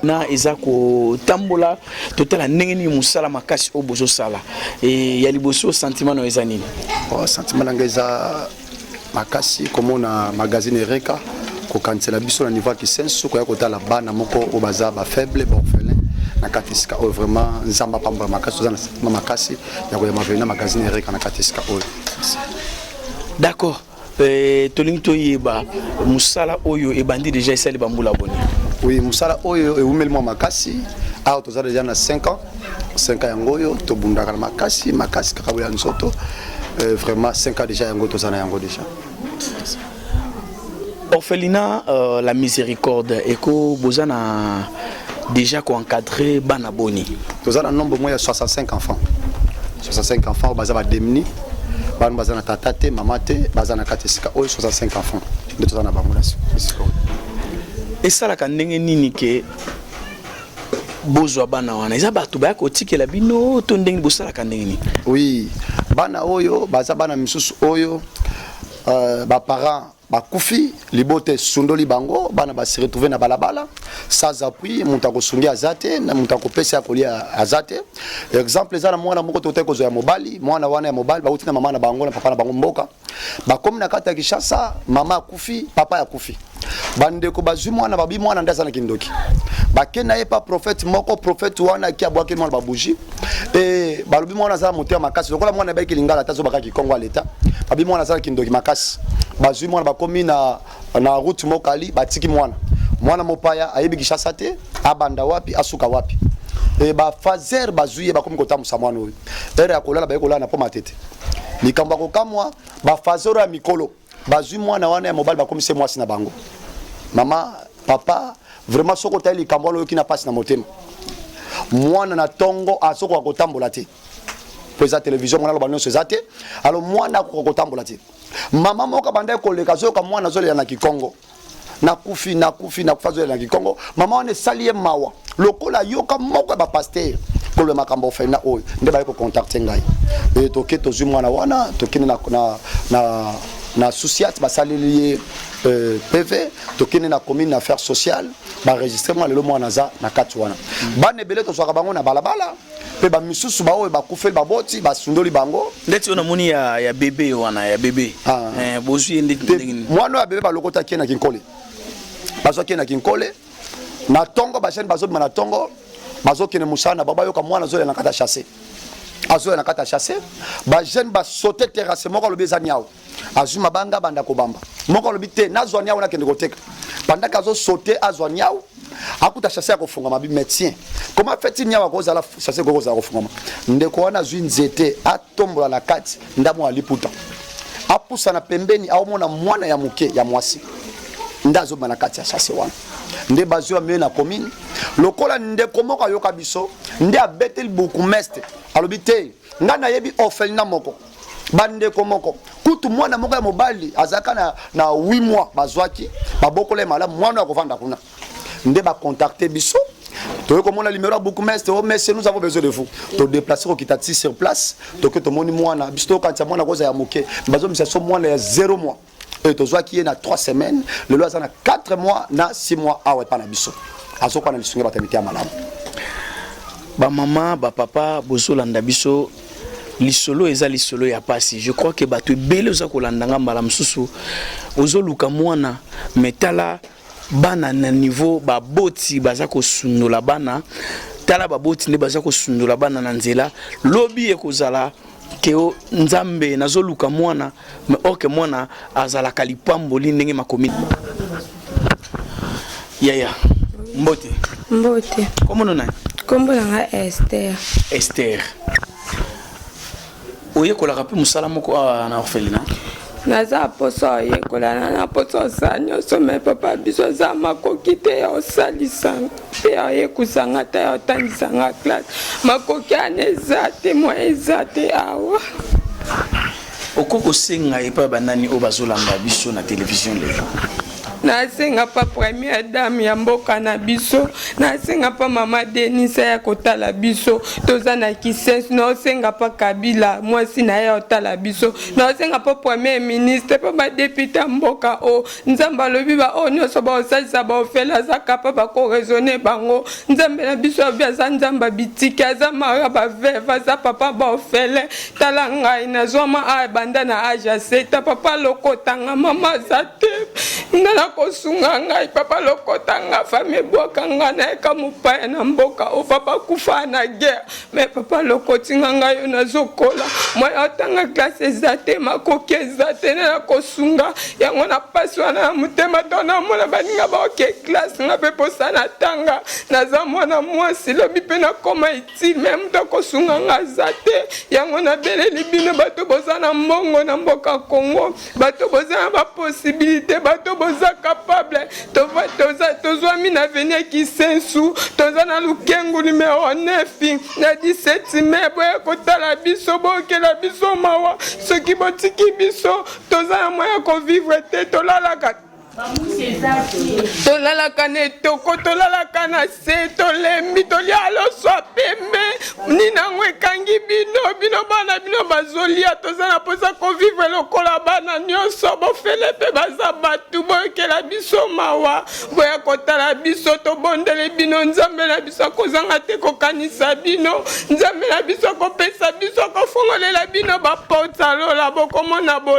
na eza kotambola totala ndenge nini mosala makasi oyo bozosala e, ya liboso sentiment na yo eza nini oh, sentiment na ngai eza makasi komona magazine ereka kokanisela biso na niveau ya kisenso koya kotala bana moko oyo baza bafaible baorphelin na kati esika oyo vraiment nzambe apambola makasi toza na sentiment makasi ya koyamba vena magazine ereka na kati esika oyo d'accord Euh, tolingi toyeba mosala oyo ebandi deja esali bambula boni oui mosala oyo ewumeli mwa makasi awa toza deja na 5 ans 5 ans yango oyo tobundaka na makasi makasi kaka boya nzoto euh, vraiment 5 ans deja yango toza na yango deja Orphelinat euh, la miséricorde eko boza na déjà ko encadrer bana boni. Toza na nombre moyen 65 enfants. 65 enfants baza ba demni. Bana baza na tata te, maman te, baza na kati sika oyo 65 enfants. Nde toza na bango na sika. Esalaka ndenge nini ke bozwa bana wana eza bato baya kotikela bino to ndenge bosalaka ndenge nini oui bana oyo baza bana misusu oyo uh, baparent bakufi libota esundoli bango bana ba se retrouver na balabala sans appui moto akosungi aza te na moto akopesa ya kolia aza te exemple eza na mwana moko totaki kozwa ya mobali mwana wana ya mobali bauti na mama na bango na papa na bango mboka bakomi na kati ya kinshasa mama akufi papa akufi bandeko bazwi mwana babi mwana nde aza na kindoki bake na ye pa prophète moko prophète wana ake abwaki mwana babuji Eh, balobi mwana azala moto ya makasi lokola mwana ebaki lingala ata azobaka kikongo ya leta babi mwana azala kindoki makasi bazwi mwana bakomi na, na route mokali batiki mwana mwana mopaya ayebi kishasa te abanda wapi asuka wapi e, eh, bafazer bazwi ye bakomi kotambusa mwana oyo ere ya kolala baye kolala na po matete likambo ya kokamwa bafazer oyo ya mikolo bazwi mwana wana ya mobali bakomisi ye mwasi na bango mama papa vraiment soki otali likambo wana oyoki na mpasi na motema mwana na ntongo azokoka kotambola te mpo eza televizio mwana aloba nyonso eza te alo mwana akoka kotambola te mama moko abandaki koleka azoyoka mwana azolela na kikongo nakufi nakufi nakufi azolela na kikongo mama wana esali ye mawa lokola yoka moko ya bapaster koloba makambo ofenda oyo nde baye kocontacte ngai e, toke tozwi mwana wana tokende na, na, na, na susiat basaleli ye euh, pv tokende na commune na affaire sociale baregistre mwa lelo mwana aza na kati wana bana ebele tozwaka bango na balabala bala. mpe bamisusu baoyo bakufeli baboti basundoli bango ndeti oyo namoni ya, ya bebe wana ya bebe ah. eh, bozwi ye ndeti ndenge nini mwana oyo ya bebe balokotaki ye na kinkole bazwaki ye na kinkole na ntongo bajene bazobima na ntongo bazokende mosala na bango bayoka mwana azolela na kati ya chasse azolela na kati ya chasse bajene basote terrasse moko alobi eza niao azwi mabanga abanda kobamba moko alobi te nazwa niau nakende koteka pandaka azosote azwa niau akuta chasse ya kofungama bi médecin koma feti niau akozala chasse ekoki kozala kofungama ndeko wana azwi nzete atombola na kati ndambo ya liputa apusana pembeni aomona mwana ya moke ya mwasi nde azobima na kati ya chasse wana nde bazwi bamei na commune lokola ndeko moko ayoka biso nde abeteli bourgmestre alobi te ngai nayebi orphelina moko bandeko moko kutu mwana moko ya mobali azalaka na, na 8 mois bazwaki babokola ye malamu mwana oyo akovanda kuna nde bakontakte biso toyei komona limero ya bourgmestre o oh, monsieur nous avons besoin de vous todeplace kokita ti sur place toke tomoni mwana biso tokokanisa mwana kozala ya moke bazomisa so mwana ya 0 mois oyo tozwaki ye na 3 semaines lelo aza na 4 mois na 6 mois awa epa na biso azokuwa na lisungi ya bato ya mitema malamu bamama bapapa bozolanda biso lisolo eza lisolo ya pasi je crois que bato ebele oza kolanda nga mbala mosusu ozoluka mwana me tala bana na niveau baboti baza kosundola bana tala baboti nde baza kosundola bana na nzela lobi ekozala Teo Nzambe nazoluka mwana mais or que mwana azalaka lipamboli ndenge makomi yaya mbote mbote komono nani kombo na nga Esther Esther oyekolaka mpe mosala moko awa na orphelina naza mposo oyekolana na mposo osala nyonso me papa biso aza makoki te ya osalisa mpe ayekusa nga ta atangisa nga classe makoki ana eza te mwa eza te awa oko kosenga epai banani oyo bazolanda biso na televizio lelo nasenga pa première dame ya mboka na biso nasenga pa mama denisa ya kotala biso toza na kises naosenga pa kabila mwasi na ye otala biso naosenga pa premier ministre pa badepute ya mboka o nzambe alobi baoyo nyonso baosalisa baofele aza kapa bakoresone bango nzambe na biso alobi aza nzambe ya bitike aza mara baveve aza papa baofele tala ngai nazwama a ebanda na age ya seta papa lokotanga mama aza te nga nakosunga ngai papa lokotanga fami ebwaka nga nayeka mopaya na mboka o papa kufa na guerre me papa lokoti nga ngai yo nazokola mwana atanga klase eza te makoki eza te na nakosunga yango na mpasi wana ya motema to namona baninga baoke klase nga mpe mposa natanga naza mwana mwasi lobi mpe nakoma itile me moto akosunga nga aza te yango nabeleli bino bato boza na mbongo na mboka kongo bato boza na baposibilité bato boza capable tozwami na veni ya kisensu toza na lukengu numero 9 na 17 mai boye kotala biso bookela biso mawa soki botiki biso toza na mwa ya kovivre te tolalaka tolalaka na etoko tolalaka na se tolembi tolia loswa pembe nini yango ekangi bino bino bana bino bazolia toza na mposa kovivre lokola bana nyonso bofele mpe baza bato boyokela biso mawa boya kotala biso tobondeli bino nzambe na biso akozanga te kokanisa bino nzambe na biso akopesa biso akofongolela bino baporte alola bokomona bo